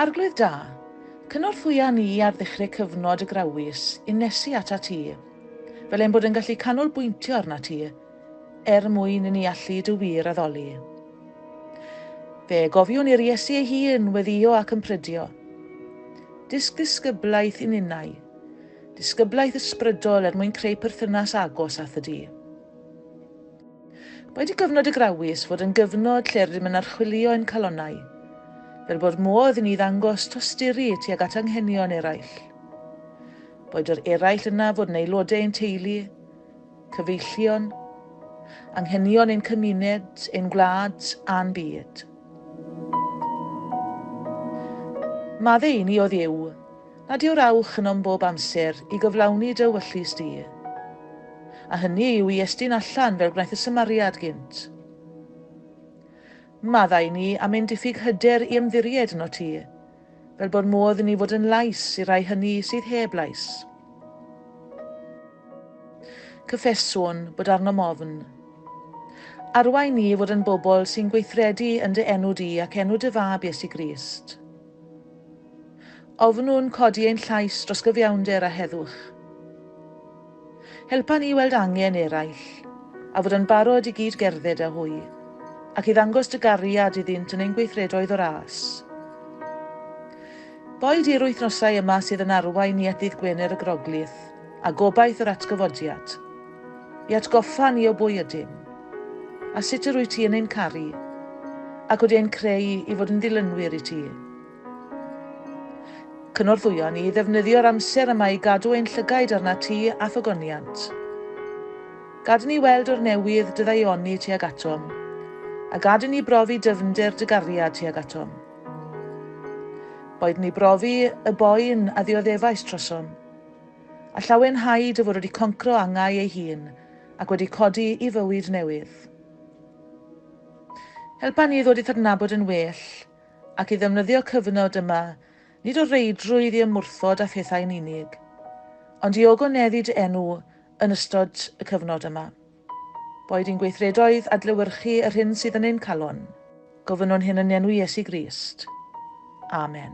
Arglwydd da, cynorthwya ni ar ddechrau cyfnod y grawys i nesu at at ti, fel ein bod yn gallu canolbwyntio arnat ti, er mwyn i ni allu dy wir addoli. Fe gofiwn i'r Iesu ei hun weddio ac yn prydio. Dysg ddisgyblaeth i ninnau, Disgyblaeth ysbrydol er mwyn creu perthynas agos â Thŷ Du. Mae dy gyfnod y Grawys fod yn gyfnod lle rydym yn archwilio ein calonnau, fel bod modd i ni ddangos tosturi tuag at anghenion eraill. Boed yr eraill yna fod yn aelodau ein teulu, cyfeillion, anghenion ein cymuned, ein gwlad a'n byd. Maddau i ni o Dduw, Nad yw'r awch ynom bob amser i gyflawni dy ewyllys di, a hynny yw i estyn allan fel gwnaeth y Samariad gynt. Maddau ni am ein diffyg hyder i ymddiried yno ti, fel bod modd inni fod yn lais i'r rhai hynny sydd heb lais. Cyffeswn bod arnom ofn. Arwain ni i fod yn bobl sy'n gweithredu yn dy enw di ac enw dy Fab Iesu Grist. Ofnwn codi ein llais dros gyfiawnder a heddwch. Helpa ni weld angen eraill, a fod yn barod i gyd-gerdded â hwy, ac i ddangos dy gariad iddynt yn ein gweithredoedd o ras. Boed i'r wythnosau yma sydd yn arwain ni at Ddydd Gwener y Groglith, a gobaith yr Atgyfodiad, I atgoffa ni o bwy ydym, a sut yr wyt ti yn ein caru, ac wedi ein creu i fod yn ddilynwyr i ti. Cynorthwyo ni i ddefnyddio'r amser yma i gadw ein llygaid arnat ti a thogoniant. Gad i ni weld o'r newydd dy ddaioni tuag atom, a gad i ni brofi dyfnder dy gariad tuag atom. Boed ni brofi y boen a ddioddefais trosom, A llawenhau dy fod wedi concro angau ei hun ac wedi codi i fywyd newydd. Helpa ni i ddod i'th adnabod yn well ac i ddefnyddio cyfnod yma nid o reidrwydd i ymwrthod â phethau'n unig, ond i ogoneddu dy enw yn ystod y cyfnod yma. Boed yn gweithredoedd adlewyrchu yr hyn sydd yn ein calon, gofynnwn hyn yn enw Iesu Grist. Amen.